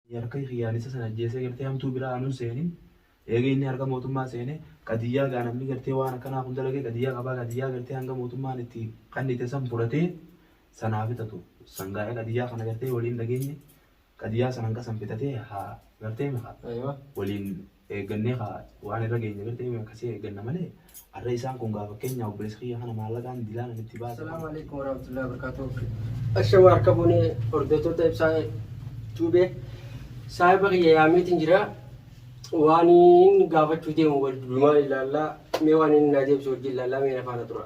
Harka kiyyaalessa san ajjeesee gartee hamtuu biraa anun seenin eega inni harka mootummaa seene qadiyyaa gaa namni gartee waan akkanaa kun dalage qadiyyaa qabaa qadiyyaa gartee hanga mootummaan itti kannite san fudhatee san haa fixatu san gaa qadiyyaa kana gartee waliin dhageenye qadiyyaa san hanqa san fixatee haa gartee meqa waliin Eeggannee kaa waan irra geenye bektee mee akkasii eegganna malee arra isaan kun gaa fakkeenyaa obboleessa kiyya kana maallaqaan dilaa namitti baase. Assalamu alaikum warahmatullahi wabarakatuh. Ashama harka bune hordoftoota ibsaa tuube saahiba kiyya yaameetiin jira waan inni gaafachuu deemu wal dumaa ilaallaa mee waan inni naa deebisu wajjin ilaallaa mee na faana tura.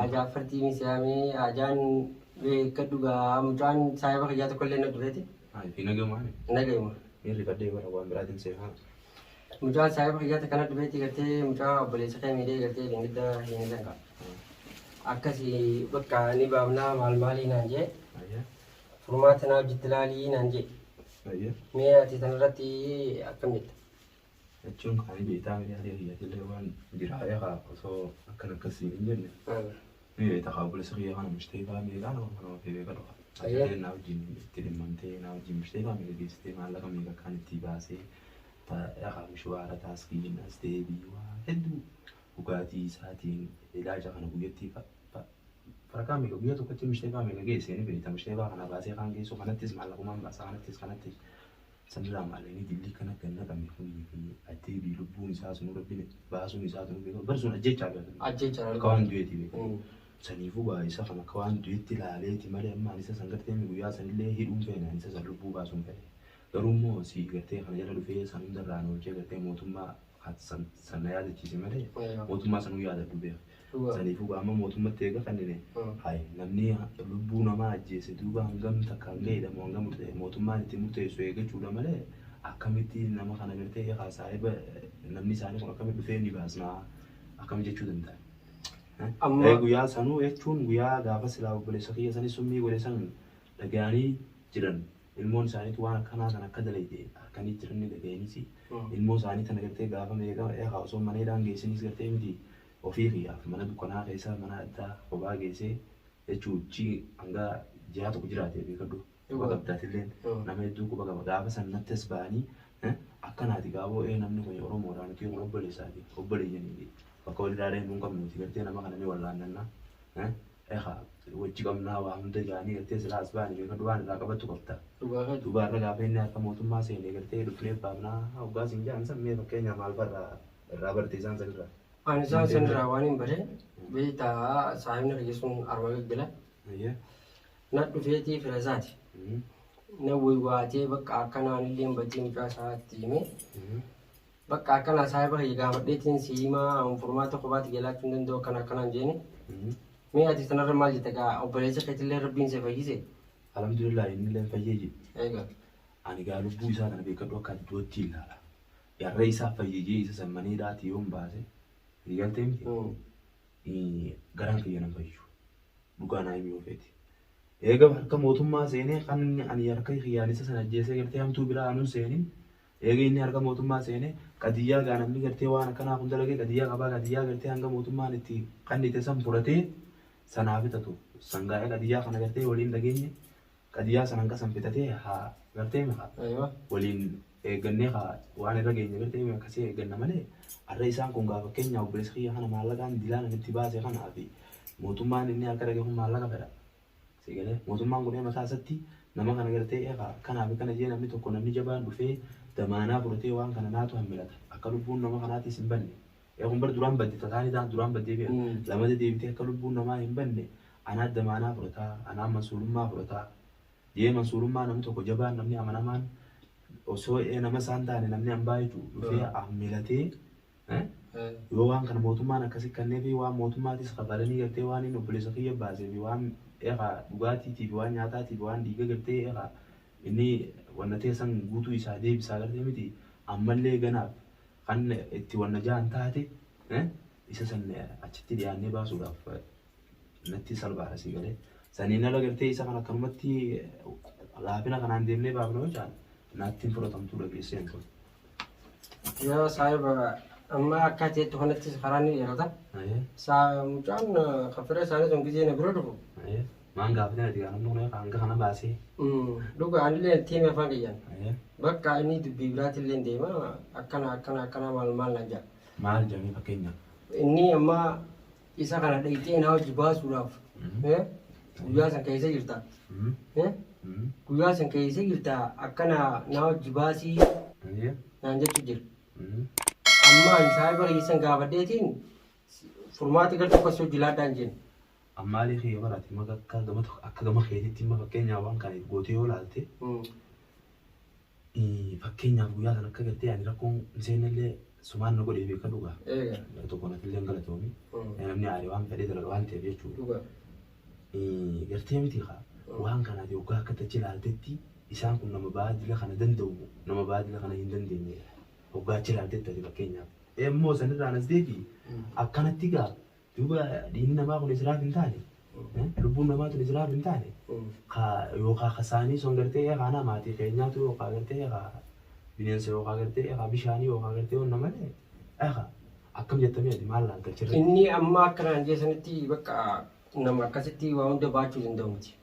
Ajaan fartii miseeyamee ajaan beeka dhugaa mucaan saayiba kiyyaa tokko illee na dureeti. Nagayuma. Mucaan saayiba kiyyaa takka na dureeti gartee mucaa obboleessa kee miidhee gartee dingidda hin danqa. Akkasi bakka ni baafnaa maal maalii naan jee furmaata naa hojjetti laalii naan jee mee ati tanarratti akkam jetta? Jechuun kaanii beektaa miti haadha kiyyatillee waan jiraa eegaa osoo akkan akkas siin hin jenne ni beekta kaa obboleessa kiyya kana mishtee faa meeqaa nama kana ofee beeka dhufa. Ayyaan naa wajjin itti dhimmamtee naa wajjin mishtee faa meeqa geessitee maallaqa meeqa akkaan itti baasee eegaa mishwaara taaskiin as deebii waa hedduu dhugaatii isaatiin ilaaja kana guyyattii farakaa meeqa guyyaa tokkotti mishtee faa meeqa geessee ni beekta mishtee faa kana baasee kaan geessuu kanattis maallaqumaan baasaa kanattis kanattis Sirraa maalini jilli kana ganna qabne kuni fi adeebi lubbuun isaa sunu rabbin baasuun isaa sunu beeka bar sun ajjechaa beeka ajjechaa akka waan du'eeti beeka saniifuu gaa isa kan akka waan du'etti ilaaleeti malee amma ani isa san gartee mi guyyaa san illee hidhuun feene ani isa san lubbuu baasuun fedhe garuu immoo si gartee kana jala dhufee san hundarraa na oolchee gartee mootummaa kan san san na yaadachiise malee mootummaa sanuu yaadadhu beeka Dhugaa. Saniifuu gaa amma mootummatti eega kannine Mm. hay namni lubbuu namaa ajjeese duuba hangam takkaan ga'eedha moo hangam ta'e mootummaan itti murteessu eegachuudha malee akkamitti nama kana gartee ekaa saahiba namni isaanii kun akkamitti dhufee ni baasnaa akkam jechuu danda'a. Eh? Amma- Eh, Guyyaa sanuu jechuun guyyaa gaafa silaa obboleessa kiyya sanis summii godhe san dhaga'anii jiran ilmoon isaaniitu waan akkanaa kan akka dalayde harkanii jiran ni dhaga'aniisi. Mm. ilmoo isaanii tana gartee gaafa meeqa eegaa osoo mana hidhaan geessinis gartee miti Ofii kiyyaaf mana dukkanaa keessa mana addaa kophaa geessee jechuu chi hanga ji'aa tokko jiraate beekadhu quba qabda atilleen nama hedduu quba qaba gaafa san natti as ba'anii akkanaati gaaboo ee namni kuni oromoodha nuti kun obboleessaati obboleeyyaniiti bakka walirraa deemnu hin qabnu nuti gartee nama kana ni wallaannanna ekaa wajji qabnaa waa hunda jaanii gartee silaa as ba'anii beekadhu waan irraa qabattu qabda dubaarra gaafa inni harka mootummaa seene gartee dhufnee baafnaa hoggaa siin ja'an san mee fakkeenyaa maal farraa Irraa barte isaan sanirraa. Ani isaan sanirraa waan hin bare beektaa saahibni arge sun arma gaggala. Ayyee. Na dhufeetii fira isaati. Na waywaatee bakka akkanaan illee hin badii mucaa isaatti himee. Bakka akkanaa saahiba kiyya gaafadheetiin si himaa furmaata kophaatti jalaachuu hin danda'u akkana akkanaan jeeni. Mee ati sanarra maal jetta gaa obboleessa keetillee rabbiin si fayyise. Alhamdulillah inni illee fayyee jiru. Egaa. Ani gaa lubbuu isaa kana beekadhu akka du'atti ilaala. Yarra isaa fayyijee isa san manee dhaati yoon baase ni galtee miti garaan kiyya nan fayyu dhugaa naa himii ofeeti. Eega harka mootummaa seenee kan ani harka kiyyaan isa san ajjeesee gartee hamtuu biraa anun seenin eega inni harka mootummaa seenee qadiyyaa gaa namni gartee waan akkanaa kun dalagee qadiyyaa qabaa qadiyyaa gartee hanga mootummaan itti qannite san fudhatee sanaa fixatu sangaa'ee qadiyyaa kana gartee waliin dhageenye qadiyaa san hanga san bitatee haa gartee maka Aywa. waliin eeggannee haa waan irra geenye gartee mee akkasii eegganna malee arra isaan kun gaa fakkeenyaa obboleessa kiyya kana maallaqaan dilaan ani itti baase kanaa fi mootummaan inni harka dhage kun maallaqa fedha. Si galee mootummaan kun mataa isatti nama kana gartee eegaa kanaa fi kana jee namni tokko namni jabaan dhufee damaanaa fudhatee waan kana naatu hammilata akka lubbuun nama kanaatis hin banne. Yaa kun bar duraan badde tataani taan duraan baddee beeka lamada deebitee akka lubbuun namaa hin banne anaa damaanaa fudhata anaa mansuurummaa fudhata jee mansuurummaa namni tokko jabaan namni amanamaan osoo ee nama isaan taane namni ambaa jechuu dhufee ammilatee yoo waan kana mootummaan akkasi kannee fi waan mootummaatis kafalanii gartee waan inni obboleessa kiyya baasee fi waan eegaa dhugaatiitii fi waan nyaataatii fi waan dhiiga gartee eegaa inni wanna teessan guutuu isaa deebisaa gartee miti ammallee ganaaf Kan itti wanna ja'an taate isa san achitti dhiyaannee baasuudhaaf natti salphaadha sii galee. Saniin ala gartee isa kan akkanumatti laafina kanaan deemnee baafna yoo ja'an natti hin fudhatamtuu dhageessee hin tolu. Yoo saahiba amma akka ati jettu kanattis karaa ni dheerata. Saa mucaan kan fira isaanii sun gizee na bira dhufu Maan gaafate nati kaan ammoo mee kaan kana baasee. Dhuga anillee itti hime afaan kiyyaan. Bakka inni dubbii biraatti illee deema akkana akkana akkana maal maal naan jedha. Maal jedhanii fakkeenya. Inni amma isa kana dhayxee naa hojii baasuudhaaf guyyaa san keessa jirta. Guyyaa san keessa jirta akkana naa hojii baasii naan jechuu jira. Amma ani saayiba keessan gaafadheetiin furmaata gara tokkos hojii laadhaan jenna. Ammaalee kee yoo baraate immoo akka gama tokko- akka gama keetitti immoo fakkeenyaaf waan kana if gootee yoo ilaalte ii, fakkeenyaaf guyyaa sana akka gartee ani rakkoon hin seenne illee sumaan na godhee beeka dhugaa. Eega. Gara tokkoon ati illee hin galatoomi. Namni aare waan fedhee dalaga waan ta'eef jechuudha. Dhugaa. Ii, Gartee miti kaa waan kana ati hoggaa akka tachi ilaaltetti isaan kun nama baadila kana danda'u moo nama baadila kana hin dandeenye hoggaa achi ilaaltetti ati fakkeenyaaf. Immoo sanirraan as deebi'i akkanatti gaa Duuba dhiigni namaa kun Israaf hin taane, lubbuun namaa tun Israaf hin taane, ka yookaan ka saanii sun gartee ee kaanaa maatii keenyaatu yookaan gartee ee ka bineensa yookaan gartee ee ka bishaanii yookaan gartee onna malee ee ka akkam jettamee ati maal laal galchirra. Inni amma akka naan jee sanitti bakka nama akkasitti waa hunda baachuu danda'u miti.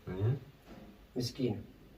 Miskiina.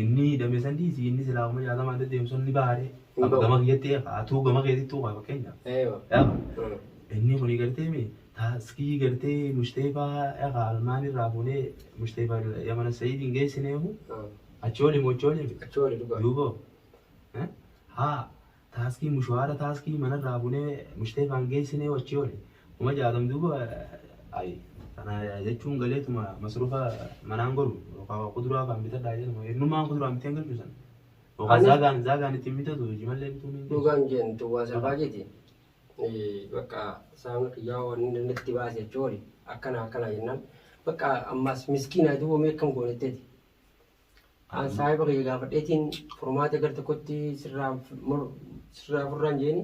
Inni hidhame san dhiisi inni silaa kuma jaatamaan deddeemu sun ni baha ree. Hin Amma bahu. gama kiyyatti eegaa atuu gama keetittuu kaa fakkeenyaaf. Eewa. Eegaa Mm. inni kuni gartee mi taaskii gartee mushteefaa eegaa almaan irraa fuunee mushteefaa yamana sayidiin geessineehu Mm. achooli mochooli mi Achi wali dhugaa. duuba eh, haa Taaskii mushaara taaskii mana irraa bunee mushteefaan geessinee wachii wale kuma jaatam duuba ayi kana jechuun galeetuma masrufa manaan godhu yookaan kuduraa faan bitadhaa jedhama hirnumaan kuduraan biteen galchu san yookaan Ani- zaagaan zaagaan ittiin bitatu jimallee bituun hin dhugaa hin jeen duwwaa salphaa keeti bakka saamni kiyyaa waan inni natti baase jechuun akkana akkana jennaan bakka ammaas miskiinaa duwwamee akkam goonetteeti An saahiba kiyya gaafadheetiin furmaata gar tokkotti sirraa mur- sirraa furraan jeeni.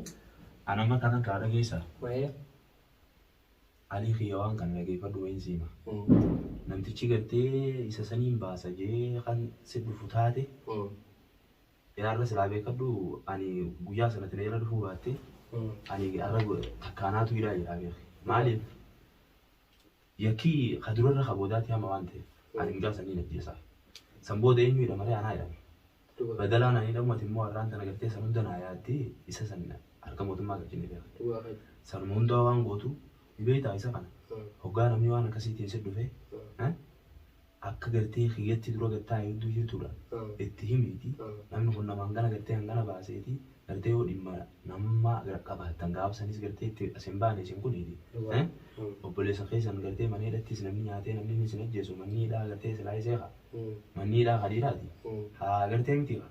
An amma kana kaa dhageessa. Wayee. Alii kiyya waan kana dhageeffadhu wayiin siima. Mm. Namtichi gartee isa saniin baasa jee kan si dhufu taate Mm. yaarra silaa beekadhu ani guyyaa sanatti na irra dhufuu baatte Mm. ani arra takkaanaatu hidhaa jedhaa beeki. Maaliif? Yakkii ka durarra ka boodaati hama waan ta'eef ani mucaa san niin ajjeesaa. San booda eenyuu hidhama ree anaa hidhama. Badalaan ani hidhamu ati immoo arraan tana gartee san hunda naa yaaddee isa san harka mootummaa galchinee beekna. Sanuma hundaa waan gootu ni beektaa isa kana hoggaa namni waan akkasiitiin sitti dhufe Akka gartee kiyyatti dura gad taa'e hedduu jirtuudha. Itti himiiti namni kun nama hangana gartee hangana baaseeti gartee yoo dhimma nama qabaattan gaafa sanis gartee itti as hin baane isin kuniiti. Obboleessa keessan gartee mana hidhattis namni nyaatee namni inni isin ajjeesu manni hidhaa gartee silaayisee kaa manni hidhaa ka dhiiraati. Haa gartee miti kaa.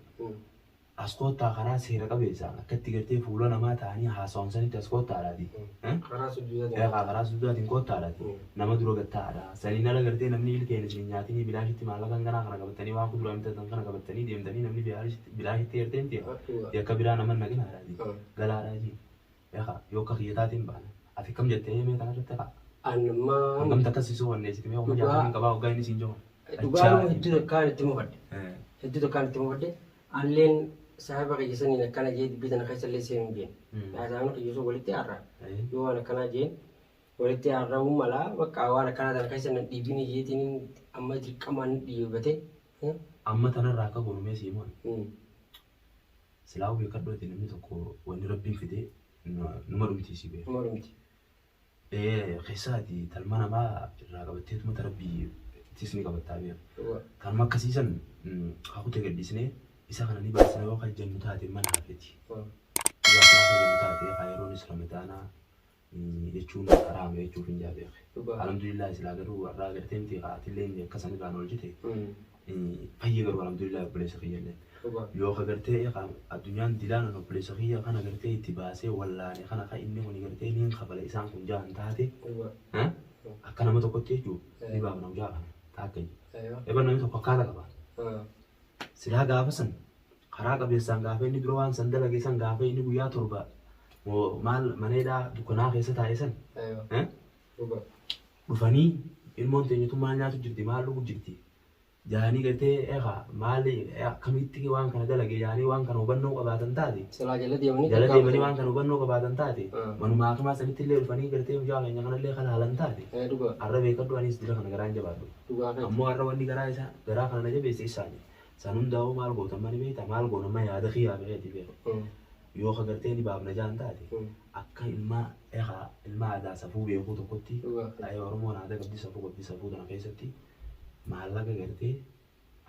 As koottaa karaa seera qabeessaan akka itti gartee fuula namaa ta'anii haasawan sanitti as koottaadhaati. Eh? Karaa sujuudaatiin. Eegaa karaa sujuudaatiin koottaadhaati. Nama dura gad ta'aadha. Saniin ala gartee namni ilkeen isin hin nyaatinii bilaashitti maallaqa hanganaa kana qabattanii waan kuduraa bitatan kana qabattanii deemtanii namni bilaashitti gartee miti yakka biraa nama hin naqinaadhaati. Galaadhaa jeen. Ekaa yoo akka kiyya taateen baana ati kam jettee mee kana irratti kaa. An maa. Kun gamta akkas sisuu wanneessiti mee kuma jaatamii hin qabaa waggaa inni siin jiru. Dhugaadhuma hedduu takkaan itti mufadhe. Hedduu takkaan itti mufadhe. Anilleen saahiba kiyya saniin akkana jee dubbii tana keessa illee seenuu hin feene. Haasaan kiyya sun walitti aarra. Yoo waan akkanaa jeen walitti aarra'uu mala bakka waan akkanaa tana keessa nan dhiibini jeetiin amma dirqamaan dhiibate. Amma tanarraa akka goonu mee sii moona. Silaahuu beekadhoote namni tokko wanni rabbiin fide numa dhumti si beeka. Numa dhumti. Keessaati talma namaa irraa qabatteetuma ta rabbii ittis ni qabattaa beeka. Kanuma akkasiisan kakute gadhiisnee isa kana ni baasna yoo kan jennu taate mana hafeti. Yoo akkana kan jennu taate kaa yeroonis ramadaanaa jechuun haraama jechuuf hin jaa beekhe. Dhugaa. Alhamdulillah silaa garuu warraa agartee miti atillee inni akka san irraan oolchite fayye garuu alhamdulillah obboleessa kiyyallee. Dhugaa. Yoo ka gartee ka addunyaan dilaan an obboleessa kiyya kana gartee itti baasee wallaane kana ka inni kun gartee niin kafala isaan kun jahan taate Dhugaa. eh, akka nama tokkotti jechuu ni Eh. baafna hujaa kana taakka jee. Aywa. Eban namni tokko akkaata qaba. Ah. Silaa gaafa san Karaa qabeessaan gaafa inni dura waan san dalage san gaafa inni guyyaa torba moo maal mana hidhaa dukkanaa keessa taa'e san Aywa. eh, Dhuga. dhufanii ilmoon teenya tun maal nyaatu jirti maal dhugu jirti jaanii gartee eegaa maal eh, akkamitti waan kana dalage jaanii waan kana hubannoo qabaatan taate Silaa jala deemanii jala takkaa deemanii waan kana hubannoo qabaatan taate Mm. manuma hakimaa sanitti illee dhufanii gartee mucaa keenya kanallee kan haalan taate Eh, Dhuga. har'a beekadhu anis dira kana garaan jabaadhu. Dhugaa kan. ammoo har'a wanni garaa isaa garaa kana na jabeesse isaani San hundaa'uu maal goota amma ni beekta maal goona amma yaada kiyyaa mikeeti beeku. Yoo ka gartee ni baafna jaan taate akka ilmaa ekaa ilmaa aadaa safuu beekuu tokkotti ayee Oromoon aadaa qabdi safuu qabdi safuu tana keessatti maallaqa gartee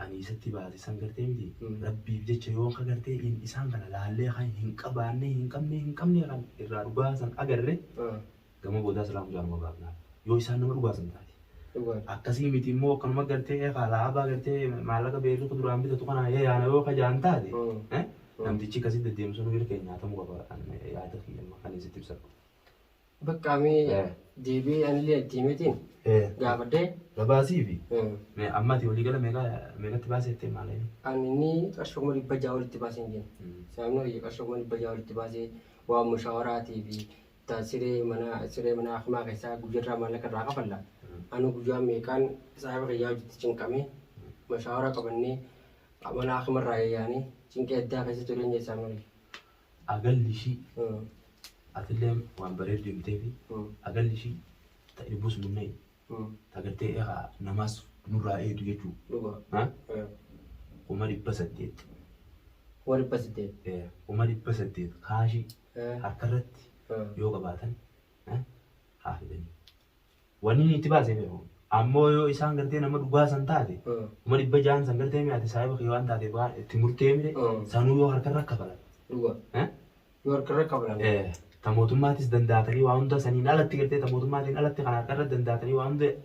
ani isatti baase san gartee miti rabbiif jecha yoo ka gartee in isaan kana laallee kan hin qabaannee hin qabnee hin qabnee kan irraa dhugaa san agarre Gama boodaa silaa mucaa numa baafna. Yoo isaan nama dhugaasan taate. Akkasii miti immoo akkanuma gartee alaabaa gartee maallaqa beerri kuduraan bitatu kanaa yaana yoo kajaan taate namtichi akkasii deddeemu sanuu irra keenya nyaatamuu qaba yaada kiyya amma kan sitti ibsadhu. Bakka amee deebi'ee anillee itti himetiin gaafadhee. Gabaasii fi amma ati walii gala meeqatti baasee jettee maal inni? Ani ni qarshii kuma dhibba ja'a olitti baasee hin jennu. Sababni hojii qarshii kuma dhibba ja'a olitti baasee waan mushawaraatii fi ta siree manaa siree manaa hakimaa kesaa guyarraa maallaqa irraa kafalla anuu guyyaa meeqaan saahiba kiyyaa wajjitti cinqamee mashaawara qabannee mana hakima irraa yayyaane cinqii addaa keessa jireenya isaa malee agalli ishii atilleen waan bareeddu himteefi agalli ishii ta irbus munnee ta gartee eegaa namaas nurraa eeydu jechuu dhugaa eh, kuma dhibba saddeet kuma dhibba saddeet eh, kuma dhibba saddeet kaashii harkarratti yoo qabaatan haa fidanii. Wanni inni itti baasee beeku. Ammoo yoo isaan gartee nama dhugaa san taate kuma dhibba ja'an san gartee mi'aate saahiba kee waan taateef waan itti murtee mire sanuu yoo harkarra kafalan. Dhugaa. Yoo harkarra kafalan. Ta mootummaatis dandaatanii waa hunda saniin alatti gartee ta mootummaatiin alatti kan harkarra dandaatanii waa hunda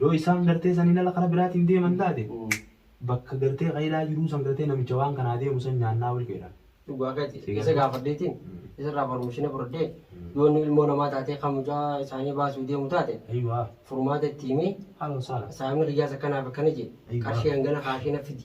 Yoo isaan gartee saniin ala kara biraatiin deeman taate bakka gartee qaylaa jiruu san gartee namicha waan kanaa deemu san nyaannaa wal keedha. Dhugaa keeti. Isa gaafadheetiin isarraa farmishina fudhadhee yoo inni ilmoo namaa taatee kan mucaa isaanii baasuu deemu taate Ayiwaa. furmaata itti himee Haala wasaala. saamni kiyyaas akkanaaf akkana jee Ayiwaa. qarshii hangana kaashii na fidi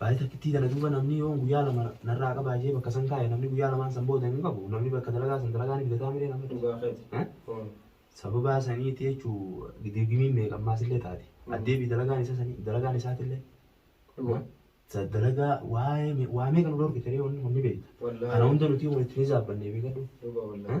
Baay'ee takkittii tana duuba namni yoon guyyaa lama narraa qabaa jee bakka san kaa'e namni guyyaa lamaan san booda hin qabu namni bakka dalagaa san dalagaa ni bidataa miree namni Dhugaa keeti. Eh? Mm. sababaa saniiti jechuu dirgimiin meeqa ammaas illee taate Mm. addeebii dalagaan isa sanii dalagaan isaatillee Dhugaa. sa- dalagaa waa'ee me- waa meeqa nu dhorkite ree wanni kun ni beekta Wallaahi. kana hunda nuti kun itti ni zaabbanne beekadhu Dhugaa wallaahi.